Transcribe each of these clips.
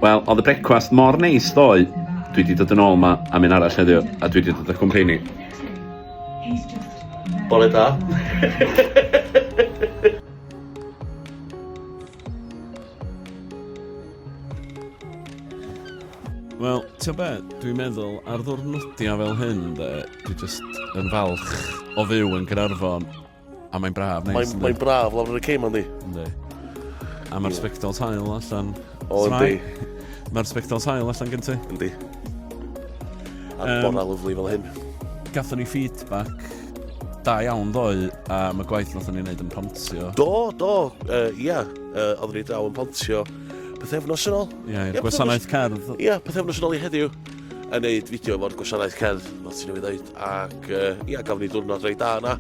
Wel, oedd y brecwast mor neis ddoe. Dwi wedi dod yn ôl yma am un arall heddiw, a dwi wedi dod â cwmpeini. Bore da. Wel, ti'n be, dwi'n meddwl ar ddwrnodiau fel hyn, de, dwi just yn falch o fyw yn Gynarfon. A mae'n braf, neis. Mae'n mae braf lawr yn y ceim, yndi? Yndi. A mae'r spectol tail allan. O, yndi. Mae'r spectol tail allan gen ti. Yndi. A'r um, bora lyflu fel hyn. Gatho ni feedback Da iawn ddoe, a mae gwaith nath ni'n neud yn pontio. Do, do, ia, uh, yeah. uh, oeddwn ni draw yn pontio pethefnos yn ôl. Ia, yeah, yeah, gwasanaeth cerdd. Ia, yeah, pethefnos yn ôl i heddiw yn neud fideo efo'r gwasanaeth cerdd, fel ti'n ei ddeud, ac ia, uh, yeah, gafon ni diwrnod rei da yna,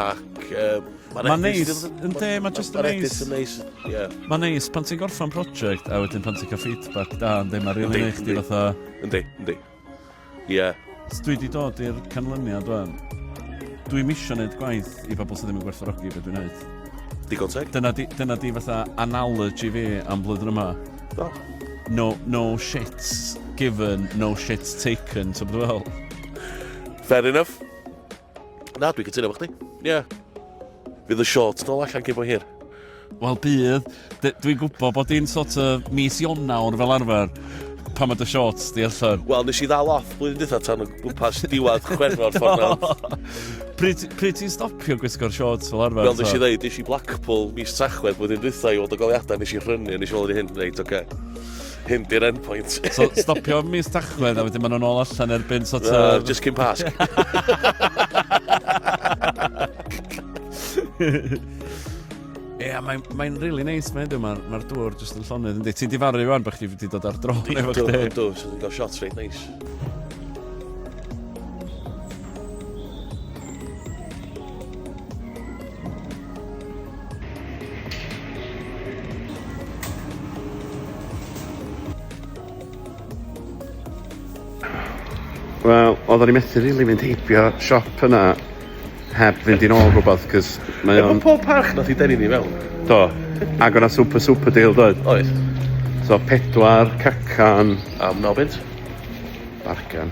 ac uh, Mae'n neis, yn de, mae'n just yn neis. Mae'n neis, ie. Mae'n neis, pan ti'n gorffan prosiect, a wedyn pan ti'n cael feedback da, yn de, mae'n rili neis chdi fatha... Yndi, yndi. Ie. Dwi di dod i'r canlyniad wan. Dwi ddim isio neud gwaith i bobl sydd ddim yn gwerthfawrogi beth dwi'n neud. Digon teg. Dyna di, dyna di fatha analogy fi am blwyddyn yma. Do. No, no shits given, no shits taken, ti'n bod fel? Fair enough. Na, dwi'n cytuno efo chdi. Ie. Yeah. Fydd y shorts dol allan cyn bo hir. Wel bydd, dwi'n gwybod bod hi'n sort of mis Ionawr fel arfer pan mae dy shorts di allan. Wel, nes i ddal off blwyddyn dwytha tan o gwmpas diwad chwerwr ffordd nawr. Pryd, pryd ti'n stopio gwisgo'r shorts fel arfer? Wel, nes i ddeud, nes i Blackpool mis Tachwedd blwyddyn dwytha i weld y goliadau, nes i rhynnu, nes i weld hyn, reit, oce. Okay. Hyn di'r endpoint. So, stopio mis tachwedd a wedyn maen nhw'n ôl allan erbyn sort of... Uh, just cyn pasg. Ie, yeah, mae'n mae really nice, mae'n dweud, mae'r ma dŵr jyst yn llonydd. Ynddi, ti'n difaru rwan bych chi wedi dod ar dro efo chdi. Do, do, so ti'n cael shots reit nice. Wel, oeddwn i methu rili mynd heibio siop yna heb fynd i'n ôl rhywbeth, cys mae o'n... Efo pob parch nath i denu ni fel. Do, ac o'na super super deal doedd. Oes. So pedwar cacan... Am nobent. Bargan.